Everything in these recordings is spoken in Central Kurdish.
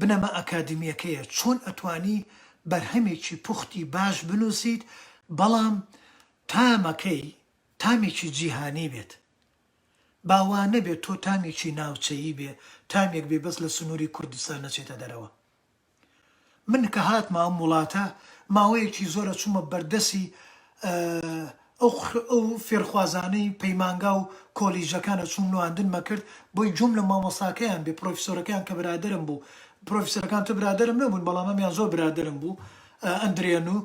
بنەما ئەکادیمیەکەیە چۆن ئەتوانی بەرهەمێکی پوختی باش بنوسیت بەڵام تامەکەی تامێکی جیهانی بێت با وانەبێت تۆ تامێکی ناوچەیی بێ تامێک بێ بەس لە سنوری کوردستان نەچێتە دەرەوە من کە هاتمە ئەم وڵاتە ماوەیەکی زۆرە چوومە بەردەسی ئەو فێرخوازانەی پەیمانگا و کۆلیژەکان ئەچوون نواندن مەکرد بۆی جووم لە مامۆستاکەیان بێ پرۆفیسۆرەکەیان کە برادەرم بوو پرۆفیسۆرەکان تۆ برادەرم نەبوون بەڵام ئەمیان زۆر برادەرم بوو ئەندرێنوو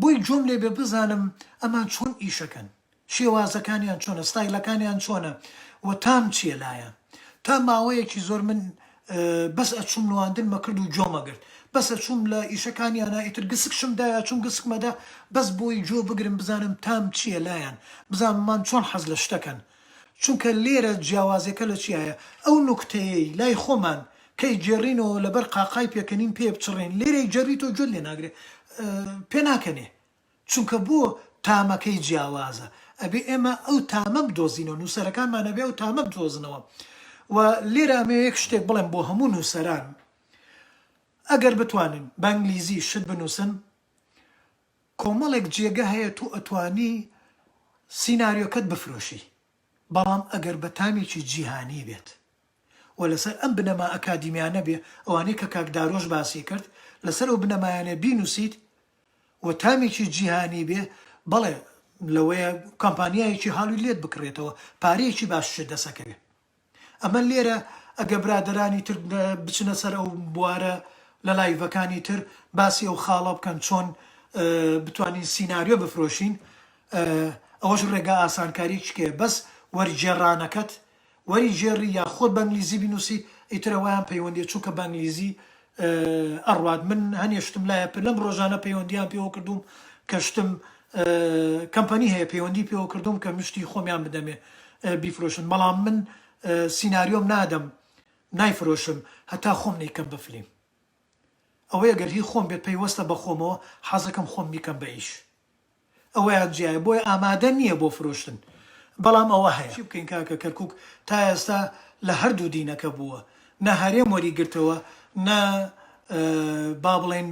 بۆی جووم لێ بێ بزانم ئەمان چۆن ئیشەکەن شێوازەکانیان چۆنە ستایلەکانیان چۆنە و تام چیە لایان تا ماوەیەکی زۆر من بەس ئەچوم نواندن مەکرد و جۆ مەگرت بەس ئەچوم لە ئیشە کانیانا ئیتر گسکشم دایە چوم گسک مەدا بەس بۆی جۆ بگرم بزانم تام چیە لایان بزانم مان چۆن حەز لە شتەکەن چونکە لێرە جیاوازێکە لە چیایە ئەو نوکتەیەی لای خۆمان کەی جێرینەوە لەبەر قاقای پێکەنین پێ بچڕێن لێرەی جەریتۆ جۆت لێ ناگرێ پێ ناکەنێ چونکە بۆ تامەکەی جیاوازە ئەبێ ئێمە ئەو تامە بدۆزینەوە نووسەرەکانمان ئەبێ ئەو تامە بدۆزنەوە و لێرە ئەمەوێ یەک شتێک بڵێم بۆ هەموو نووسەران ئەگەر بتوانن بە ئینگلیزی شت بنووسن کۆمەڵێک جێگە هەیە تۆ ئەتوانی سیناریۆکەت بفرۆشی بەڵام ئەگەر بە تامێکی جیهانی بێت و لەسەر ئەم بنەما ئەکادیمیانە بێ ئەوانەی کە کاک دارۆش باسی کرد لەسەر ئەو بنەمایانە بینوسیت و تامێکی جیهانی بێ بەڵێ لەوەیە کامپانیایەکی هالی لێت بکڕێتەوە پارەیەکی باششت دەست ئەکەوێ ئەمە لێرە ئەگە برادەرانی تر بچنە سەر ئەو بوارە لە لایڤەکانی تر باسی ئەو خاڵە بکەن چۆن بتوانین سیناریۆ بفرۆشین ئەوەش ڕێگا ئاسانکاریکێ بەس وەرگێڕانەکەت وەری گێڕی یا خۆت بە ئنگلیزی بینوسی ئیتر ئەوەیان پەیوەندیە چونکە بە ئنگلیزی ئەڕوات من هەنێ شتم لایە پر لەم ڕۆژانە پەیوەندیان پێوە کردوم کە شتم کەمپەنی هەیە پەیوەندی پێوە کردوم کە مشتی خۆمیان بدەمێ بیفرۆشن بەڵام من سیناریۆم نادەم نایفرۆشم هەتا خۆم نەیکەم بە فلیم ئەوەی گەر هی خۆم بێت پەیوەستە بە خۆمەوە حەزەکەم خۆم بیکەم بە ئیش. ئەوەیان جیایە بۆیە ئامادە نییە بۆ فرۆشتن بەڵام ئەوە هەیە. چی بکەین کاکە کەرکوک تا ئێستا لە هەردوو دینەکە بووە نە هەرێم وەری گرتەوە نە با بڵێین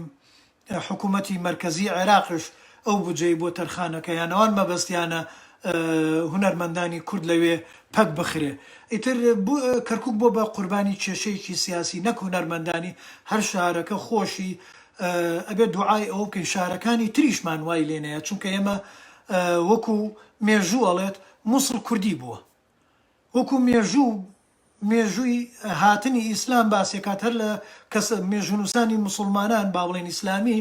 حکومەتی مەرکەزی عێراقش ئەو بودجەی بۆ تەرخانەکە یان ئەوان مەبەستیانە هونەرمەندانی کورد لەوێ پەک بخرێ ئیتر کەرکوک بۆ بە قوربانی کێشەیەکی سیاسی نەک هونەرمەندانی هەر شارەکە خۆشی ئەبێت دوعای ئەوە بکەین شارەکانی تریشمان وای لێ نەیە چونکە ئێمە وەکو مێژوو ئەڵێت موسڵ کوردی بووە وەکو مێژوو مێژووی هاتنی ئیسلام باسێکات هەر لە کەس مێژونووسانی مسلمانان با بڵێن ئیسلامی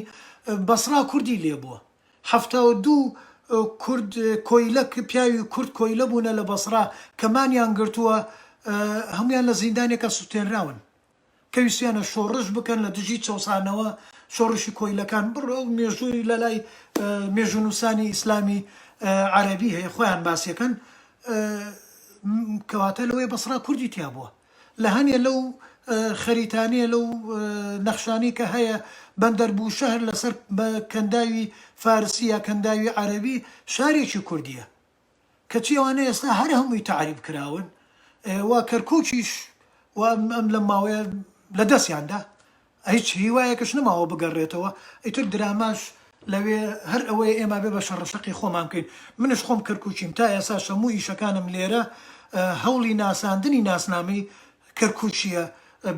بەسرا کوردی لێ بووە هەفتا و دوو کورد کۆیلە پیاوی کورد کۆیلە بوونە لە بەسرا کەمانیان گرتووە هەمویان لە زیندانێکە سووتێنراون کە ویستیانە شۆڕش بکەن لە دژی چەوسانەوە، شۆڕشی کۆیلەکان، بڕ ئەو مێژووی لە لای مێژوونووسانی ئیسلامی عەرەبی هەیە خۆیان باسی ئەکەن، کەواتە لەوەیە بەسڕا کوردی تیا بووە، لە هەنێ لەو خەریتانەیە لەو نەخشانەی کە هەیە بەندەر بووشەهر لەسەر کەنداوی فارسی یا کەنداوی عەرەبی شارێکی کوردییە، کەچی ئەوانە ئێستا هەر هەمووی تەعریب کراون و کەرکوکیش و ئەم لەم ماوەیە لە دەستیان دا هیچ هیوایەکش نەماوە بگەڕێتەوە ئیتر دراماش لەوێ هەر ئەوەیە ئێمە بێ بە شەڕەشەقی خۆمان بکەین منش خۆم کەرکوکیم تا ئێساش هەموو ئیشەکانم لێرە هەوڵی ناساندنی ناسنامەی کەرکوکیە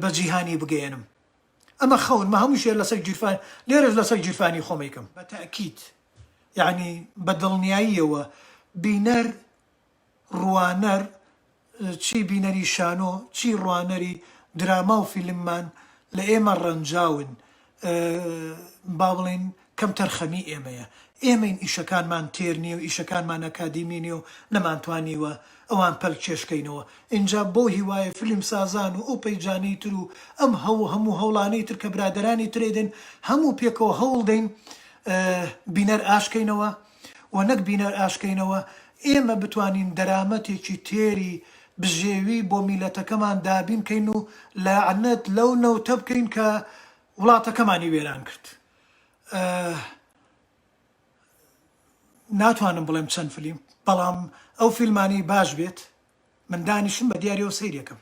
بە جیهانی بگەیەنم. ئەمە خەون مە هەموو شێ لەسەر گیرفان لێرەش لەسەر گیرفانی خۆم ئەیکەم. بە تەئکید یەعنی بە دڵنیاییەوە بینەر ڕوانەر چی بینەری شانۆ چی ڕوانەری دراما و فیلممان لە ئێمە ڕەنجاون با بڵێین کەمتەرخەمی ئێمەیە، ئێمەین ئیشەکانمان تێر نیە و ئیشەکانمان ئەکادیمی نیە و نەمانتوانیوە ئەوان پەلکێشکەینەوە، ئینجا بۆ هیوایە فیلمسازان و ئەو پەیجانەی تر و ئەم هەوو هەموو هەوڵانەی تر کە برادەرانی ترێ دەن هەموو پێکەوە هەوڵ دەین بینەر ئاشکەینەوە و نەک بینەر ئاشکەینەوە ئێمە بتوانین دەرامەتێکی تێری بژێوی بۆ میلەتەکەمان دابین کەین و لەعنەت لەو نەوتە بکەین کە وڵاتەکەمانی وێران کرد. ناتوانم بڵێم چەند فلیم بەڵام ئەو فیلمانەی باش بێت من دانیشم بە دیارەوە سەیرێکم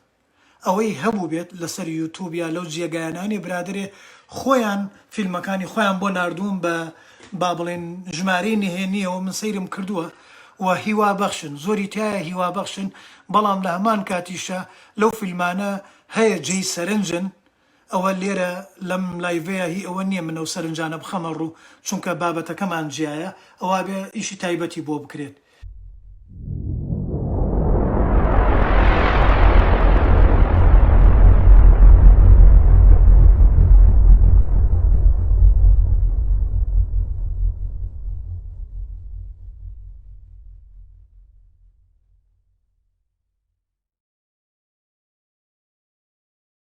ئەوەی هەبوو بێت لەسەر یوتوب یا لەو جێگایانانی برادێ خۆیان فیلمەکانی خۆیان بۆ نردووم بە با بڵێن ژمارەی نهێنیەوە من سەیرم کردووە و هیوا بەخشن زۆری تایە هیوا بەخشن بەڵام لە هەمان کاتیشە لەو فیلمانە هەیە جێی سەرنجن ئەوە لێرە لەم لایڤەیا هی ئەوە نیە من ئەو سەرنجانە بخەمە ڕوو چونکە بابەتەکەمان جیایە ئەوا بێ ئیشی تایبەتی بۆ بکرێت.